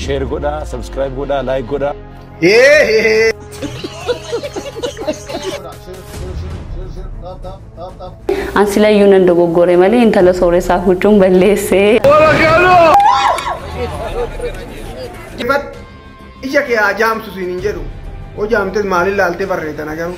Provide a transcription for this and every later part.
Share godhaa, subscribe godhaa, like godhaa. An silayyuu nan dogoggore malee intala sooressaa huccuun balleessee. Ifatti ija kee haa jaamsu siin hin jedhu. Hoo jaamtes maal ilaaltee barreetan agaruu.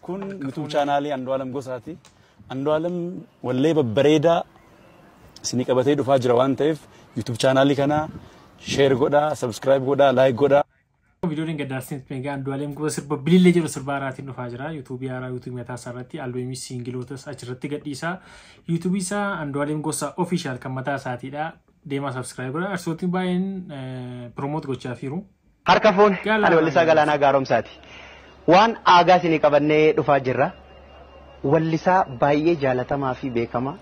Kun YouTube chaanaalii Andu'aalam Gosaati. Andu'aalam wallee babbareedaa isinii qabatee dhufaa jira waan ta'eef YouTube chaanaalii kana share godhaa, subscribe godhaa, like godhaa. Viidiyoon gaddaarsiin Peengaa Andu'aalam Gosa sirba bilillee jedhu sirba haaraatiin dhufaa jira. Yuutuubii haaraa yuutuubii mataa isaa irratti albeemii siingilootas achirratti gadhiisa. Yuutuubii isaa Andu'aalam Gosa ofishaal kan mataa isaatiidha. Deemaa subscribe godhaa. Arsiisotiin baay'een piroomoot gochaa jiru. Harka fuune! Ani Wallisaa Galaanaa Gaaromsaati. Waan aagaa isinii qabannee dhufaa jirra. Wallisaa baay'ee jaalatamaa fi beekamaa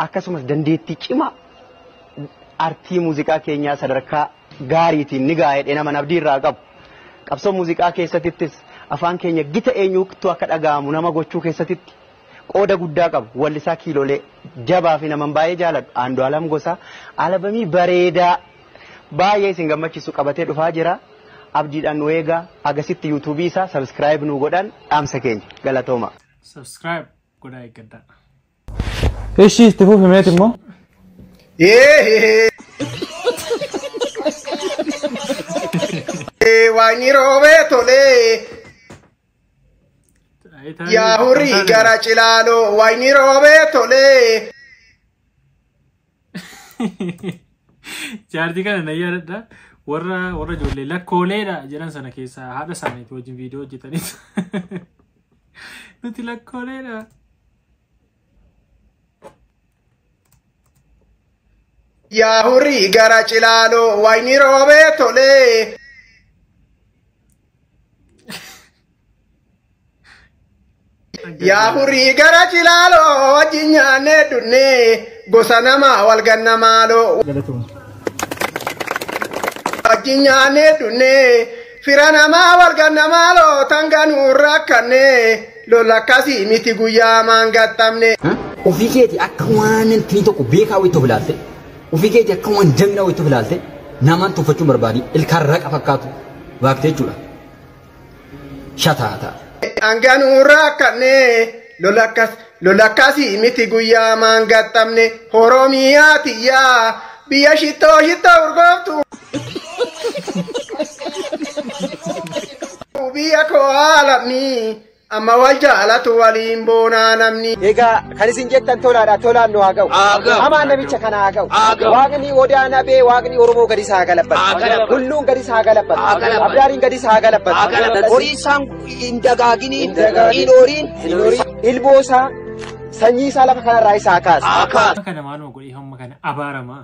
akkasumas dandeettii cimaa artii muuziqaa keenyaa sadarkaa gaariitiin ni ga'a jedheen amana abdii irraa qabu. Qabsoo muuziqaa keessatittis afaan keenya gita eenyuutu akka dhaga'amu nama gochuu keessatitti qooda guddaa qabu. Wallisaa kiilolee jabaa fi naman baay'ee jaaladhu Aandu'aalam Gosaa alabamii bareedaa baay'ee isin gammachiisu qabatee dhufaa jira. Abdiidhaan nu eegaa. Hagasitti YouTube isaa subscribe nuu godhaan dhaamsa keenya. Galatooma. Subscribe godhaa eeggadhaa. Ishii itti fufi meeti immoo. Waaqni roobee tolee yaa hurrii gara cilaaloo waaqni roobee tolee. Jaartii kana na yaadadha. Warra warra ijoollee lakkooleedha jedhan sana keessaa haadha isaaniitu wajjin viidiyoo hojjetaniitu. Nuti lakkooleedha. Yaa horii gara cilaaloo waayinii roobee tolee. Yaa furii gara cilaaloo wajjin nyaannee dunnee gosa namaa wal ganna maaloo Galatooma. wajjin nyaannee dunnee fira namaa wal ganna maaloo tanga nuun rakkannee lola akkasii miti guyyaa maan gaxxamne. Ofii keeti akka waan intii tokko beekaa wayii tokko ilaalte ofii keeti akka waan jagnaa wayii tokko ilaalte namaan tuffachuun barbaadi ilkaan raqa fakkaatu waaqte jechuudha. shataata. Hangan urraa kannee lola akkas lola akkasii miti guyyaa maan gaxxamne Oromiyaa tiyyaa biyya shittoo shittoo urgooftu. Biyya koo aalamii Amma wal jaalatu waliin boonaa namni. Egaa kan isin jettan tolaadha tolaan nu haa ga'u. Hamaan namicha kana haa ga'u. Waaqni odaa nabee waaqni Oromoo gadis haa galabbatu. Hulluun gadis haa galabbatu. Abdaariin gadis haa galabbatu. Horii isaan hin dagaaginiin hin horiin. Ilmoo isaa sanyii isaa lafa kanarraa isa haa kaasu. Akka kana maaluma godhee hamma kana abaaramaa.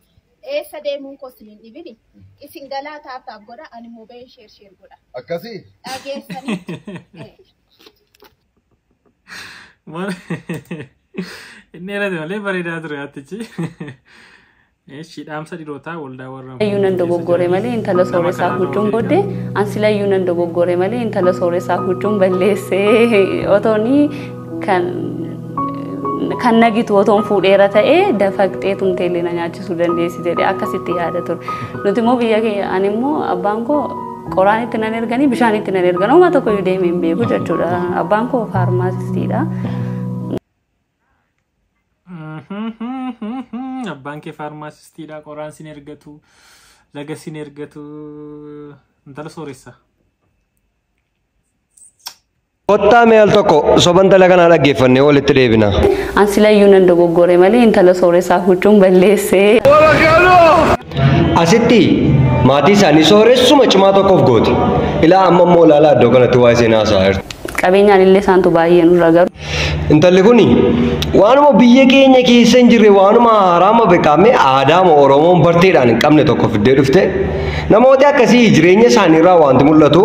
Eessa deemuun koo isin hin dhibini. Isin galaa taap taap godha ani immoo bahee sheer sheer godha. Akkasii? Dhageessanii. Eh, Mal- Inni dheerate malee bareedaa ture hattichi. Eeshi dhaamsa dhirootaa waldaa warra Silayyuu nan dogoggore malee intala sooressaa huccuun booddee an silayyuu nan dogoggore malee intala sooressaa huccuun balleessee otoonii kan kan nagitu otoon fuudheera ta'ee dafaqxee tumtee illee na nyaachisuu dandeessi jedhee akkasitti yaada ture. Nuti immoo biyya keenya ani immoo abbaan koo qoraan itti nan erganii bishaan itti nan ergan homaa tokko iyyuu deemee hin beeku jechuudha. Abbaan koo faarmaasistiidha. Abbaan kee faarmaasistiidha qoraan sin ergatu laga sin ergatu intala sooressa. Kottaa mee al tokko soban tala kanaa dhaggeeffannee walitti deebina. An silayyuu nan dogoggore malee intala sooressaa huccuun balleessee. Asitti maatii isaanii sooressuma cimaa tokkoof goote. Ilaa amma immoo ilaalaa iddoo kanatti waa'ee seenaa haasa'aa jirti. Qabeenyaan illee isaantu baay'ee nurra garu. Intalli kun waanuma biyya keenya keessa hin jirre waanuma haraama beekamee aadaama Oromoon barteedhaan hin qabne tokko fiddee dhufte. Namooti akkasii jireenya isaaniirraa wanti mul'atu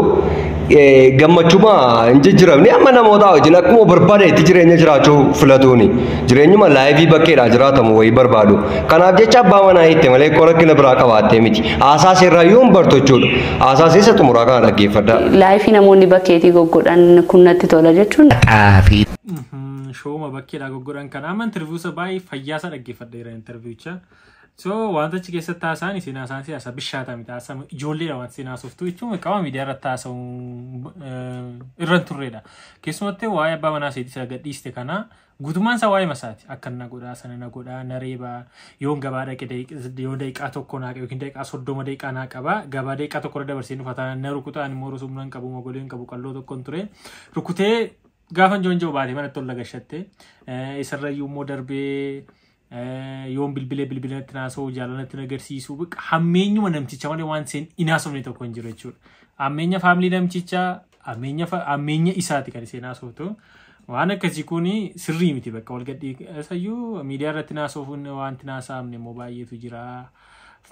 gammachuma hin jijjiramne amma namootaa wajjin akkuma barbaade itti jireenya jiraachuu filatuuni jireenyuma laayifii bakkeedhaa jiraatamu wayii barbaadu kanaaf jecha abbaa manaa hiitte malee koo rakkina biraa qabaattee miti haasaa seerraa yoo hin bartu jechuudha haasaa seessa xumuraa kana dhaggeeffadha. Laayifii namoonni bakkeetii goggodhan kun natti tola jechuun. Xaafii. Shooma bakkeedhaa goggodhan kana amma interviiwusa baay'ee fayyaasaa dhaggeeffadheera interviiwucha. So wanta achi keessatti haasa'an isin haasa'an si haasa bishaata miti haasa ijoolleedha wanta isin haasoftu jechuun qaama miidiyaa irratti haasa'u irra hin turreedha. Keessumatti waa'ee abbaa manaa seetii sila gadhiiste kana guutummaan isaa waa'ee masaati akka na godhaa sana na godhaa na reebaa yoon gabaa dhaqe daqiiq- yoo daqiiqaa tokko naa qaba yookiin daqiiqaa soddoma daqiiqaa naa qaba gabaa daqiiqaa tokko irra dabarsee nufa taanaan na rukutaa ani immoo rusumna hin qabu mogolee hin qabu qalloo tokko hin ture rukutee gaafan joonjoo baate manatti ol lagashatte isarrayyuu immoo darbee yoon bilbilee bilbila natti naasa'u jaalala natti nagarsiisu baqa hammeenyuma namticha malee waan seen inaasofne tokko hin jiru jechuudha. Hammeenya faamilii namtichaa hammeenya fa- hammeenya isaati kan isheen haasoftu. Waan akkasii kun sirrii miti bakka wal gadhii isayyuu miidiyaa irratti naasofuun wanti naasaamne immoo baay'eetu jira.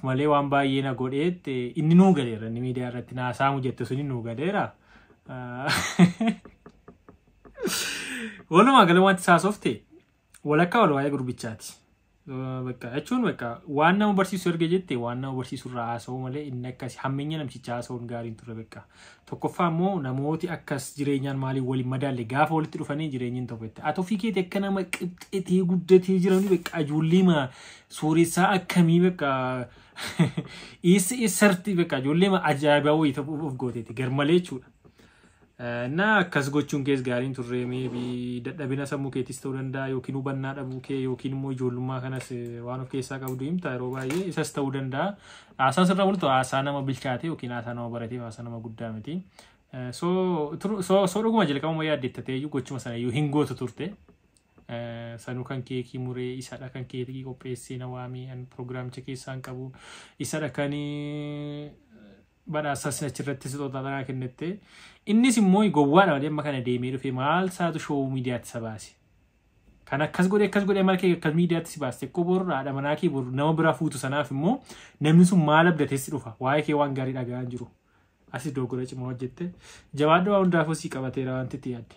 Malee waan baay'ee na godheet inni nuu galeera inni miidiyaa irratti naasaamu jette suni nuu galeera. Walumaa gala wanti saasofte Walakkaa wal waa'ee gurbichaati. Bakka jechuun bakka waan nama barsiisu erga jette waan nama barsiisu irraa haasa'uu malee inni akkas hammeenya namticha haasa'uun gaariin ture bakka. Tokkoffaa immoo namooti akkas jireenyaan maaliin waliin madaalle gaafa walitti dhufanii jireenyiin tokko itti. Ati ofii keeti akka nama qixxetee guddatee jiranii bakka ajoollee ma suuressaa akkamii bakka is isarti bakka ajoollee ma ajaa'ibaa wayii ta'uuf of gooteeti garmalee jechuudha. Na akkas gochuun kees gaarii hin turre maybe dadhabina sammuu keetis ta'uu danda'a yookiin hubannaa dhabuu kee yookiin immoo ijoollummaa kanas eh, waan of keessaa qabdu himta yeroo baay'ee isas ta'uu danda'a. Haasaa sirra bultu haasaa nama bilchaate yookiin haasaa nama baratee haasaa nama guddaa miti. Eh, So tru- so- so dhuguma jalqabuma yaaddeetta ta'e iyyuu gochuma sana iyyuu hin gootu turte. Eh, sanuu kan keekii muree isadha kan keekii qopheessee na waamee an piroogiraamicha keessaa hin qabu isadha kan eh, badhaasas achirratti sixoota tanaa kennette. Innis immoo gowwaadha malee amma kana deemee dhufee maal isaatu shoowuu miidiyaatti isa baase. Kan akkas godhe akkas godhe maal kee akkas miidiyaatti si baaste koo bor haadha manaa kee bor nama biraa fuutu sanaaf immoo namni sun maal abdateessi dhufa waa'ee kee waan gaarii dhaga'aa hin jiru. Asis dogoggora cimaa hojjette. Jabaadhu waa hundaafuu si qabateera wanti itti yaadde.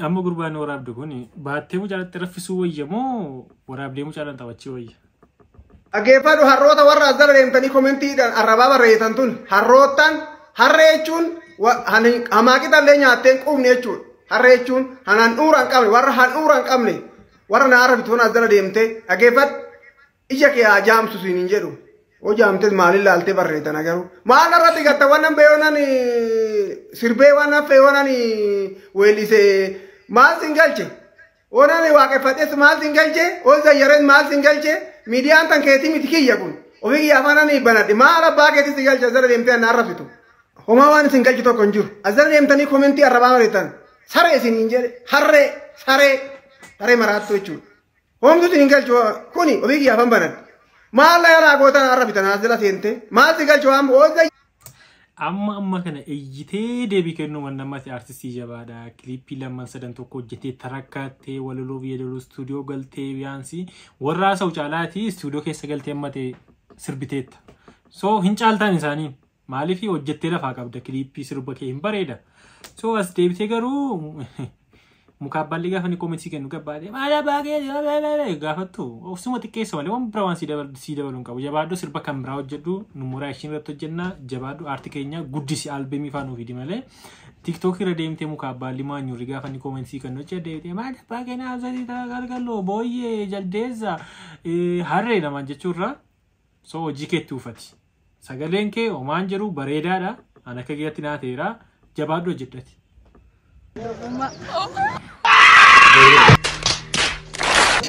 Amma gurbaan waraabdu kun baattee mucaalatti raffisuu wayya moo waraabdee mucaalaan taphachii wayya? Dhaggeeffadhu harroota warra as jala deemtanii komentiidhaan arrabaa barreessan tun harroottan harree jechuun wa- han- hamaaqixa illee nyaattee hin quufne jechuudha. Harree jechuun han handhuura hin qabne warra handhuura hin qabne warra naara bitu tun as jala deemtee dhaggeeffadhu. Ija kee haa jaamsu siin hin jedhu. Yoo jaamtes maaliin laaltee barreetana garuu. Maal irratti gatta wannan beeyonan sirbee waan haffe yoonan weellise maal siin galche. Oonan waaqeffadhes maal siin galche. Ol zayyareen maal siin galche. Miidiyaan tan keetii miti kiyya kun. Ofii kiyya afaan ani banadhe maal abbaa keetii si galche asirra deemtee anna arrabsitu. Homaa waan isin galche tokko hin jiru. Asirra deemtanii komentii arrabaa mariitan. Saree isin hin jedhe harree saree saree maraattu jechuudha. Homtu si hin galchu kuni ofii kiyyaaf hin banan. Maal na yaraa gootan har'a bitan as jala seente. Maal si galchu waan oolta amma amma kana iyyitee deebii kennuu waan namatti artistii jabaadha kiliippii lamman sadan tokko hojjetee tarakkaattee walaloo biyya loluu istuudiyoo galtee biyaansii warra haasa'u caalaatii istuudiyoo keessa galtee amma ta'e sirbiteetta so hin caaltaan isaanii Maalifi hojjettee lafaa qabda kiliippii sirba kee hin bareeda. So as deebitee garuu muka abbaan ligaa fani koomentii kennu gabbaadee maal abbaa kee gaafattu ofsuma xiqqeessa malee waan bira waan sii dabalu sii dabalu hin qabu jabaadhu sirba kan biraa hojjedhu nummoo reaction irratti hojjenna jabaadhu aarti keenya guddisi albemii faan ofiidi malee tiktookii irra deemtee muka abbaan limaa nyurri gaafa ni koomentii kennu hojjee deebitee maal abbaa kee naa zalitaa galgaloo booyyee jaldeessa harree namaan jechuurraa So hojii keetti uufati. Sagaleen kee homaan jedhu bareedaadha. An akka kiyyaatti naa ta'eera. Jabaadhu hojjedhati.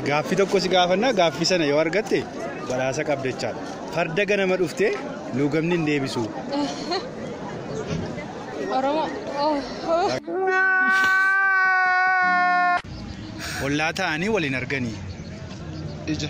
Gaaffii tokko si gaafannaa gaaffii sana yoo argatte badhaasa qabda jechaadha. Farda ganama dhuftee luugamni hin deebisu. Oromoo. Ollaa ta'anii waliin arganii. Ija.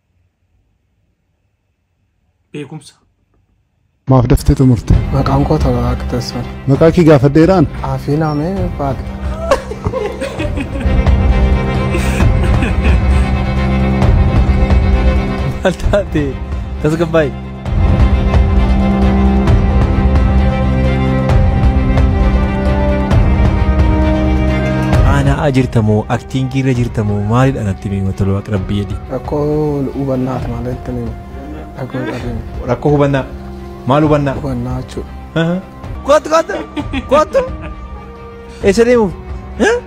beekumsa. Maaf daftee xumurte? Maqaan koo tola waaqa teessoon. Maqaa kee gaafadheeraan? Aafii naamee baadha. Maal taate tasgabbaa'e. Aana'aa jirta moo aktiingii irra jirta moo maalidha natti miima toluu akka rabbii jedhi. Rakkoo hubannaati malee itti ni rakkoo qabeenya. Rakkoo hubannaa maal hubannaa? Hubannaa jechuudha. Kottu kottu kottu. Eessa deemuuf?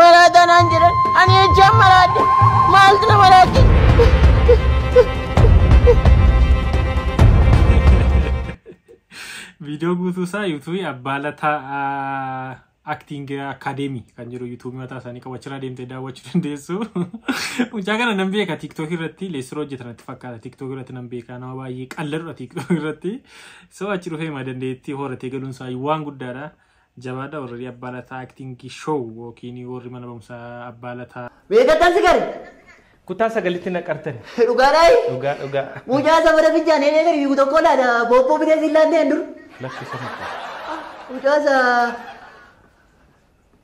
Maraataa naan jedhan ani jechaan maraadhe maaltu na maraachise. Viidiyoo guutuu isaa yuutuubii abbaa lataa acting academy kan jedhu yuutuubii mataa isaanii qabu achirraa deemtee daawwachuu dandeessu. Mucaa kana nan beeka tiktok irratti leessiroo hojjetan natti fakkaata tiktok irratti nan beeka nama baay'ee qalladudha tiktok irratti. So achi dhufee ma dandeettii horatee galuun isaa waan guddaadha. Jabaadha warri abbaa lataa acting show yookiin warri mana barumsaa abbaa lataa. Beekattan si gari. Kutaa sagalitti na qartani. Dhugaa dhaayi. Dhugaa dhugaa. Mucaa sabara fincaan heenee gadi fiigu tokko laata boobboo bitee siin laannee hin dur. Lakki sama koo. Mucaa sa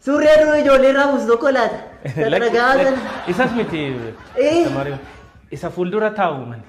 surree duruu ijoollee irraa buusu tokko laata. Lakki Dhagaa lakki. sana. Isas miti. Eh. Tamarii. Isa fuuldura taa'u mani.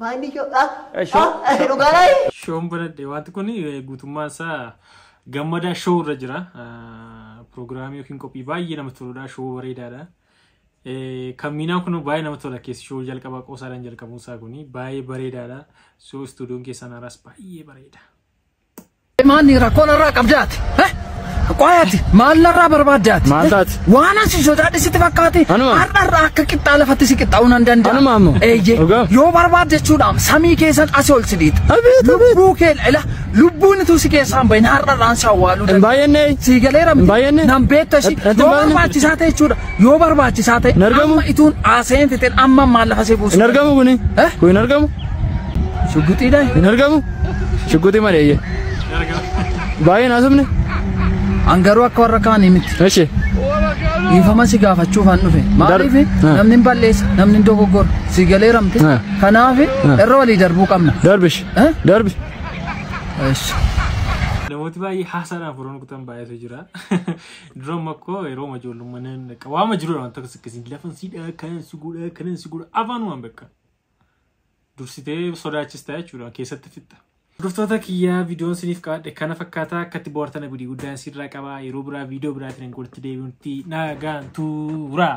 Baay'ee shoodhaa. Show- show- Dhugaa laayii. Shoon banadhe wanti kun eh, guutummaan isaa gammadaa shoo irra jira. Ah, Piroogiraamii yookiin qophii baay'ee namatti toludha. Shoo bareedaadha. Eh, Kan miinaan kun baay'ee namatti tola keessi shoo jalqabaa qoosaadhaan jalqabuun isaa kun baay'ee bareedaadha. So istuudiyoon keessaan haaraas baay'ee bareeda. Maanni rakkoo narraa qabdaati. Eh? Qoyaati maal narraa barbaaddaati. Maal taati? Waan asi sodaadhi sitti fakkaate. Anuma. Har'a irraa akka qixxaa lafatti si qixxaa'uu nan danda'a. Anuma ammoo. Eeyyee. Dhugaa. Yoo barbaadde jechuudhaam samii keessan asi ol si dhiita. Abeet, abeet. Lubbuu kee ila lubbuun utuu si keessaan bahin har'a irraan si awwaaluu Hin danda'a. baay'annee. Sii galeera miti. Hin baay'anne. Nan beekta ishii. Ati- ati Yoo baay'anne. barbaachisaa ta'e jechuudha. Yoo barbaachisaa ta'e. Hin argamu. Amma ituun haasa'een fixeen amma maal lafa si buusu. Hin argamu kuni. Eh? Kun hin argamu. Shugguxiidhaa. Hin argamu. Shugguxii malee eeyyee. Baay'ee naasofne. An garuu akka warra kaanii miti. Eshi. Dhiifama si gaafachuuf an dhufe. Maaliif Ah. namni hin balleessa, namni hin dogoggora. Si galee ramte. Ah. Kanaaf Ah. irra walii darbuu qabna. Darbish. Eh? Darbi. Eshi. Namooti baay'ee haasaadhaan furan kutan baay'eetu jira. Dura makkoo yeroo ijoollummaa nan dhaqa. Waama jiru waan tokko akkasiin lafan siidhaa kanan si godhaa kanan si godhaa afaan waan bakka. dursitee sodaachista jechuudha keessatti fixxa. Hordoftoota kiyyaa viidiyoon isiniif qaadhe kana fakkaataa akkatti bohaartan abidii guddaan sirraa qabaa yeroo biraa viidiyoo biraatiin hin gorti deebi'utti nagaan tuuraa.